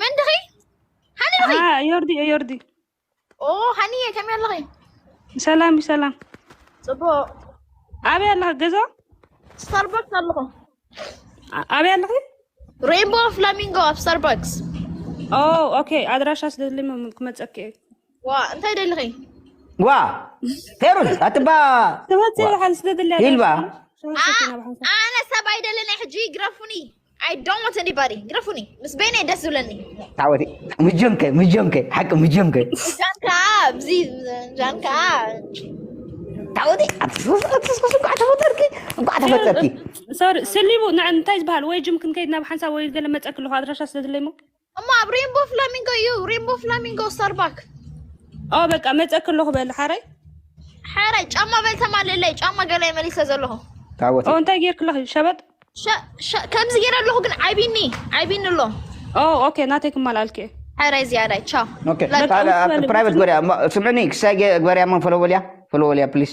መን ድኺ ሃኒ ድኺ ዮርዲ እየ ዮርዲ ኦ ሃኒ እየ ከመይ ኣለኺ ሰላም እዩ ሰላም ፅቡቅ ኣበይ ኣለኺ ገዛ ስታርባክስ ኣለኹ ኣ- ኣበይ ኣለኺ ሬንቦ ፍላሚንጎ ኣብ ስታርባክስ ኦ ኦኬ ኣድራሻ ስለዝሊ ክመፀኪ እየ ዋ እንታይ ደልኺ ዋ ፌሩዝ ኣትባ ትመፅእ በሓን ስለዝሊ ሂልባ ኣነ ሰብ ኣይደለናይ ሕጂ ይግረፉኒ I don't want anybody. ግረፉኒ ምስ በይነ ደስ ዝብለኒ ተዓወቲ ምጆንከ ምጆንከ ሓቂ ምጆንከ ጃን ከዓ ብዚ ጃን ከዓ ተዓወቲ ኣትስኩስ እንኳዕ ተፈጠርኪ እንኳዕ ተፈጠርኪ ሶሪ ስሊቡ ንዕ እንታይ ዝበሃል ወይ ጅም ክንከይድ ናብ ሓንሳብ ወይ ገለ መፀ ክለኹ ኣድራሻ ስለ ዝለይሞ እሞ ኣብ ሬንቦ ፍላሚንጎ እዩ ሬንቦ ፍላሚንጎ ስታርባክ ኦ በቃ መፀ ክለኹ በል ሓረይ ሓረይ ጫማ በል ተማልለይ ጫማ ገላይ መሊሰ ዘለኹ ታወት እንታይ ጌርክለኽ እዩ ሸበጥ ከምዚ ጌረ ኣለኹ ግን ዓይቢኒ ዓይቢኒ ኣሎ ኦኬ ናተይ ክማልኣልክ እየ ሓረይ ዝያዳይ ቻው ፕራይቨት ግበርያ ስምዕኒ ክሳይ ግበርያ ሞ ፈለወልያ ፈለወልያ ፕሊስ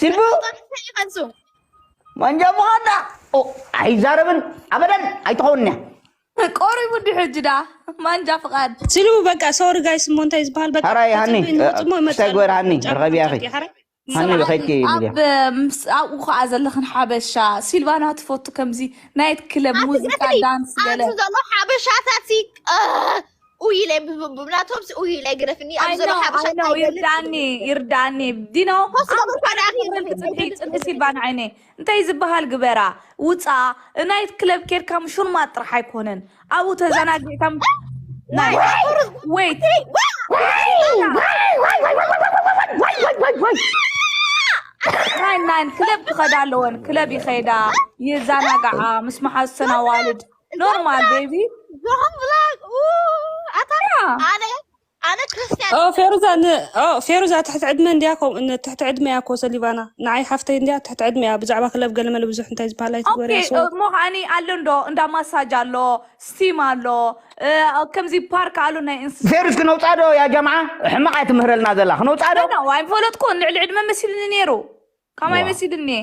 ሲልቡ ይኸንሱ መንጃ ምዃንዳ ኣይዛረብን ኣበደን ኣይትኸውን እያ ቆሪቡ ዲ ሕጂ ዳ ማንጃ ፍቓድ ሲልቡ በቃ ሶሪ ጋይስ እሞ እንታይ ዝበሃል በቃ ሐራይ ሃኒ ንወፅሞ እታይ ይመፅኣሉ ግበር ሃኒ ርኸቢ ያኺ ጨርቂ ሐራይ ሃኒ ስርዓት ብኸይድኪ እዩ ኣብ ሚድያ ምስ ኣብኡ ከዓ ዘለኽን ሓበሻ ሲልቫና ትፈቱ ከምዚ ናይት ክለብ ሙዚቃ ዳንስ ገለ ኣብቲ ዘሎ ሓበሻታት ሲ ኡይ ኢለ ብ- ብናቶም ሲ ኡይ ኢለ ግረፍኒ ኣብ ዘሎ ኣይነው ሓበሻ ኣይነው እንታይ ይገልጽ ይርዳኒ ይብል። ይርዳኒ ዲኖ ኮስ ኣም ገበር ካዳ ሓደ ኣኺ ክብል ትጽብሒ ኣይገልጽ ጽብሒ ይብል። ሲልባ ንዓይኒ እንታይ ዝበሃል ግበራ ውፃ ናይት ክለብ ኬድካ ምሹልማት ጥራሕ ኣይኮነን ኣብኡ ተዘናጊዕካ ም- ናይ ወይት ናይ ናይ ክለብ ክኸዳ ኣለወን ክለብ ይኸዳ ይዘናጋዓ ምስ መሓዙተን ኣዋልድ ኖርማል ቤቢ ፌሩዛ ፌሩዛ ትሕቲ ዕድመ እንድያ ትሕቲ ዕድመ እያ ኮ ሰሊቫና ንዓይ ሓፍተይ እንድያ ትሕቲ ዕድመ እያ ብዛዕባ ክለብ ገለመለ ብዙሕ እንታይ ዝበሃል ኣይትግበሪ እያ ሰው እሞ ከዓኒ ኣሎ እንዶ እንዳ ማሳጅ ኣሎ ስቲም ኣሎ እ፣ ከምዚ ፓርክ ኣሎ ናይ እንስሳ ፌሩስ ክነውፃ ዶ ያ ጀምዓ ሕማቕ እያ ትምህረልና ዘላ ክነውፃ ዶ ኣይፈለጥኩን ልዕሊ ዕድመ መሲሉኒ ነይሩ ካማይ መሲሉኒ እየ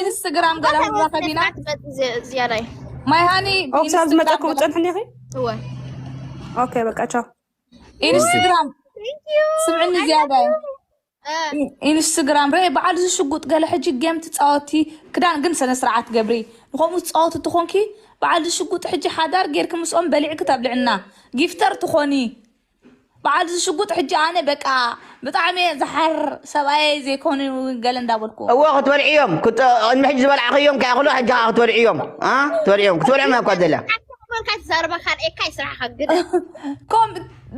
ኢንስትግራም ገለረኸቢና ዝያዳይ ማይ ሃኒ ኦብሳብ ዝመጠኩም ፀንሕኒ ኺ እወ ኦኬ በቃ ቻው ኢንስትግራም ስምዕኒ ዝያዳይ ኢንስትግራም ረ በዓል ዝሽጉጥ ገለ ሕጂ ጌም ትፃወቲ ክዳን ግን ስነ ስርዓት ገብሪ ንከምኡ ዝፃወት እትኾንኪ በዓል ዝሽጉጥ ሕጂ ሓዳር ጌርኪ ምስኦም በሊዕኪ ተብልዕና ጊፍተር ትኾኒ በዓል እዚ ሽጉጥ ሕጂ ኣነ በቃ ብጣዕሚ እየ ዝሓር ሰብኣየይ ዘይኮኑ ገለ እንዳበልኩ እዎ ክትበልዕዮም ቅድሚ ሕጂ ዝበልዓኸዮም ከይኣኽሉ ሕጂ ከዓ ክትበልዕዮም ኣ ትበልዕዮም ክትበልዖም እያ እኳ ዘላ ኮንካ ትዛረባ ካልኤካ እዩ ስራሕኻ ግደ ከም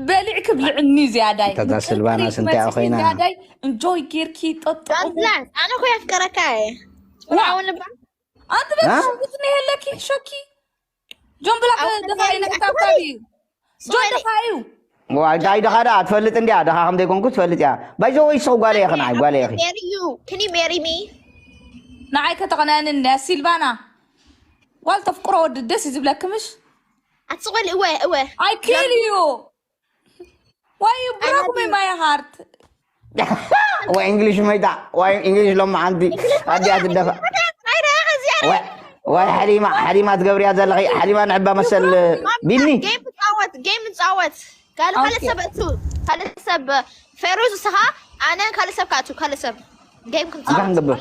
በሊዕ ክብልዕኒ ዝያዳይ እታ ስልቫናስ እንታይ እያ ኮይና? ዝያዳይ እንጆይ ጌርኪ ጠጥቑ ጋብዛት ኣነ እኮ የፍቅረካ እየ ዋው። ትምርዓውን ልባ ኣንቲ በት እ? ሽጉጥ ነይ ኣለኪ ሸኪ ጆን ብላክ ድኻ እዩ ናይ ክሳብ ክሳብ እዩ ጆን ድኻ እዩ ዋይታይ ድኻ ደኣ ትፈልጥ እንድያ ድኻ ከም ዘይኮንኩ ትፈልጥ እያ ባይዘወ ይስኹ ጓለ ኢኺ ንዓይ ጓለ ኢኺ Marry you. Can you marry me? ንዓይ ከተቕንዐኒ እንድያ ሲልቫና ጓል ተፍቅሮ ወዲ ደስ እዩ ዝብለኪ ምሽ ኣትስቆል እወ እወ ኣይ ኪል እዩ ዋይ ብራክ ሚ ማይ ሃርት ወይ እንግሊሽ መይታ ወይ እንግሊሽ ሎም ሓንቲ ኣዲኣ ትደፋ ወይ ሓሊማ ሓሊማ ትገብርያ ዘለኺ ሓሊማ ንዕባ መሰል ቢኒ ጌም ንፃወት ጌም ንፃወት ካልእ ካልእ ኦኬ። ሰብ እቱ ካልእ ሰብ ፌሩዝ እስኻ ኣነ ካልእ ሰብ ካቱ ካልእ ሰብ ጌም እንታይ ክንፃወት ክንገብር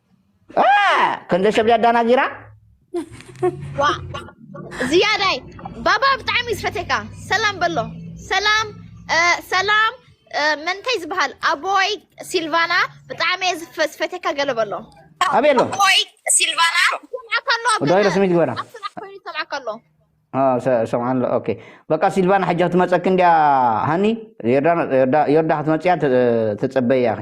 ከንደ ሰብ ዳዳናጊራ ዝያዳይ ባባ ብጣዕሚ ዝፈተካ ሰላም በሎ ሰላም ሰላም መንታይ ዝበሃል ኣቦይ ሲልቫና ብጣዕሚ ዝፈተካ ገለ በሎ ኣበይ ኣሎ ኣቦይ ሲልቫና ዳይረ ስሚት ግበራ ሰምዓካ ኣሎ ሰምዓ ኣሎ ኦኬ በቃ ሲልቫና ሕጂ ክትመፀኪ እንድያ ሃኒ ዮርዳ ክትመፅያ ትፅበያ ኢኺ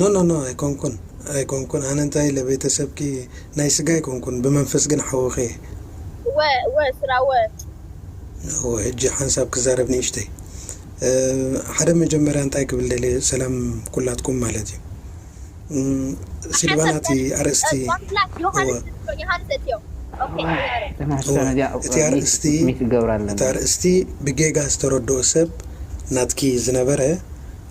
ኖኖኖ ኣይኮንኩን ኣይኮንኩን ኣነ እንታይ ኢለ ቤተሰብኪ ናይ ስጋ ኣይኮንኩን ብመንፈስ ግን ሓውኺ እየ። እወ እወ ስራ እወ። እወ ሕጂ ሓንሳብ ክዛረብ ንእሽተይ ሓደ መጀመርያ እንታይ ክብል ደልየ ሰላም ኩላትኩም ማለት እዩ ሲልቫና እቲ ኣርእስቲ እወ እቲ ኣርእስቲ እቲ ኣርእስቲ ብጌጋ ዝተረድኦ ሰብ ናትኪ ዝነበረ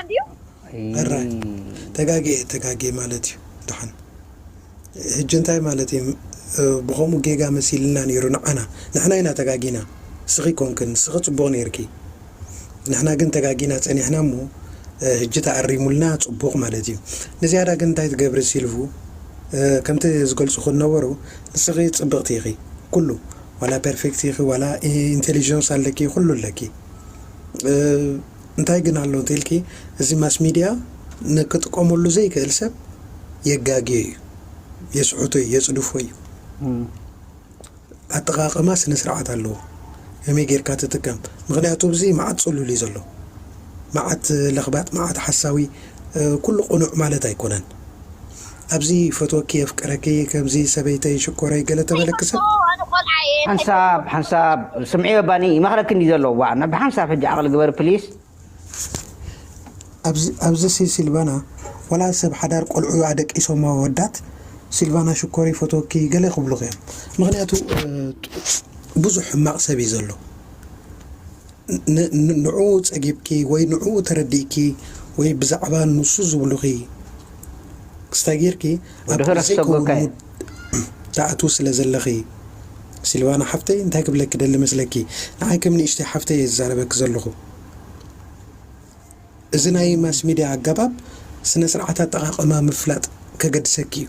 ኣዲኡ። ሕራይ ተጋግየ ተጋግየ ማለት እዩ ዳሓን ህጂ እንታይ ማለት እዩ ብከምኡ ጌጋ መሲልልና ነይሩ ንዓና ንሕና ኢና ተጋጊና ንስኪ ኣይኮንክን ንስኪ ጽቡቅ ነይርኪ ንሕና ግን ተጋጊና ጸኒሕና እሞ ህጂ ተኣሪሙልና ጽቡቅ ማለት እዩ ንዝያዳ ግን እንታይ ትገብሪ ሲልቭ ከምቲ ዝገልጹኪ ዝነበሩ ንስኪ ጽብቅቲ ኢኪ ኩሉ ዋላ ፐርፌክት ኢኪ ዋላ ኢንተሊጀንስ ኣለኪ ኩሉ ኣለኪ። እንታይ ግን ኣሎ እንተልኪ እዚ ማስ ሚድያ ንክጥቀመሉ ዘይክእል ሰብ የጋግዮ እዩ የስሕቶ እዩ የፅድፎ እዩ ኣጠቃቅማ ስነስርዓት ኣለዎ ከመይ ጌርካ ትጥቀም ምክንያቱ እዚ መዓት ፅሉል እዩ ዘሎ መዓት ለክባጥ መዓት ሓሳዊ ኩሉ ቅኑዕ ማለት ኣይኮነን ኣብዚ ይፈትወኪ የፍቅረኪ ከምዚ ሰበይተይ ሽኮረይ ገለ ተበለኪ ሰብ። ኣጆኹ ኣነ ቆልዓ እየ እንታይ ሓንሳብ ትገብሩ። ሓንሳብ ስምዕዮ ባኒ ይመኽረኪ እንድዩ ዘሎ ዋእ ናብ ብሓንሳብ ሕጂ ዓቕሊ ግበሪ ፕሊስ። ኣብዚ ኣብዚ ሲ ሲልቫና ዋላ ሰብ ሓዳር ቆልዑ ኣደቂሶም ኣወዳት ሲልቫና ሽኮር ይፈትወኪ ገለ ክብሉኺ እዮም ምኽንያቱ ብዙሕ ሕማቕ ሰብ እዩ ዘሎ ን ን ንዑኡ ጸጊብኪ ወይ ንዑኡ ተረዲእኪ ወይ ብዛዕባ ንሱ ዝብሉኺ ክስታይ ጌርኪ ኣብ ድሕረት ዘይከውን ሰጎካ እየ። ሙድ ትኣትዊ ስለ ዘለኺ ሲልቫና ሓፍተይ እንታይ ክብለኪ ደሊ መስለኪ ንዓይ ከም ንእሽተይ ሓፍተይ እየ ዝዛረበኪ ዘለኹ እዚ ናይ ማስ ሚድያ ኣጋባብ ስነ ስርዓት ኣጠቃቅማ ምፍላጥ ከገድሰኪ እዩ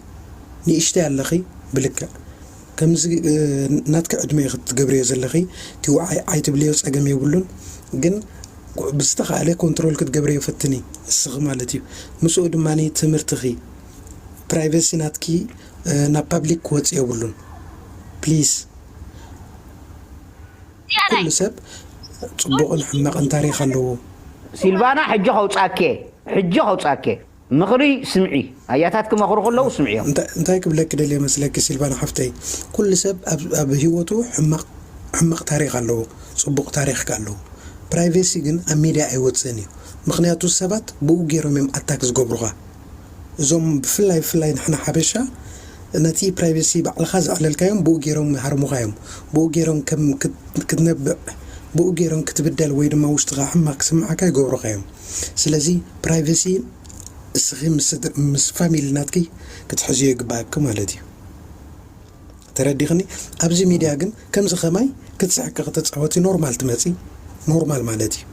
ንእሽተይ ኣለኺ ብልክዕ ከምዚ ናትኪ ዕድመ ኢኪ ትገብርዮ ዘለኪ እቲ ውዓይ ዓይ ትብልዮ ጸገም የብሉን ግን ብዝተካእለ ኮንትሮል ክትገብርዮ ፈትኒ ንስኪ ማለት እዩ ምስኡ ድማ ትምህርትኪ ፕራይቨሲ ናትኪ ናብ ፓብሊክ ክወጽእ የብሉን ፕሊስ ኩሉ ሰብ ጽቡቅን ሕማቅን ታሪክ ኣለዎ። ሲልቫና ሕጂ ከውጻኬ ሕጂ ከውጻኬ። ምኽሪ ስምዒ፣ ኣያታት ክመኽሩ ከለዉ ስምዕዮም። እንታይ ክብለኪ ደልየ መስለኪ ሲልቫና ሓፍተይ ኩሉ ሰብ ኣብ ሂወቱ ሕማቅ ሕማቅ ታሪክ ኣለዎ ጽቡቅ ታሪክ ከኣ ኣለዎ ፕራይቬሲ ግን ኣብ ሚድያ ኣይወጽእን እዩ ምክንያቱ ሰባት ብኡ ጌሮም እዮም ኣታክ ዝገብሩካ እዞም ብፍላይ ብፍላይ ንሕና ሓበሻ ነቲ ፕራይቬሲ ባዕልካ ዘዕለልካዮም ብኡ ጌሮም ይሃርሙካ እዮም ብኡ ጌሮም ከም ክትነብዕ ብኡ ጌሮም ክትብደል ወይ ድማ ውሽጥካ ሕማቅ ክስምዓካ ይገብሩካ እዮም ስለዚ ፕራይቨሲ እስኺ ምስ ፋሚሊ ናትኪ ክትሕዝዮ ይግባኣኪ ማለት እዩ ተረዲኽኒ ኣብዚ ሚድያ ግን ከምዚ ከማይ ክትስሕቂ ክትፃወቲ ኖርማል ትመፂ ኖርማል ማለት እዩ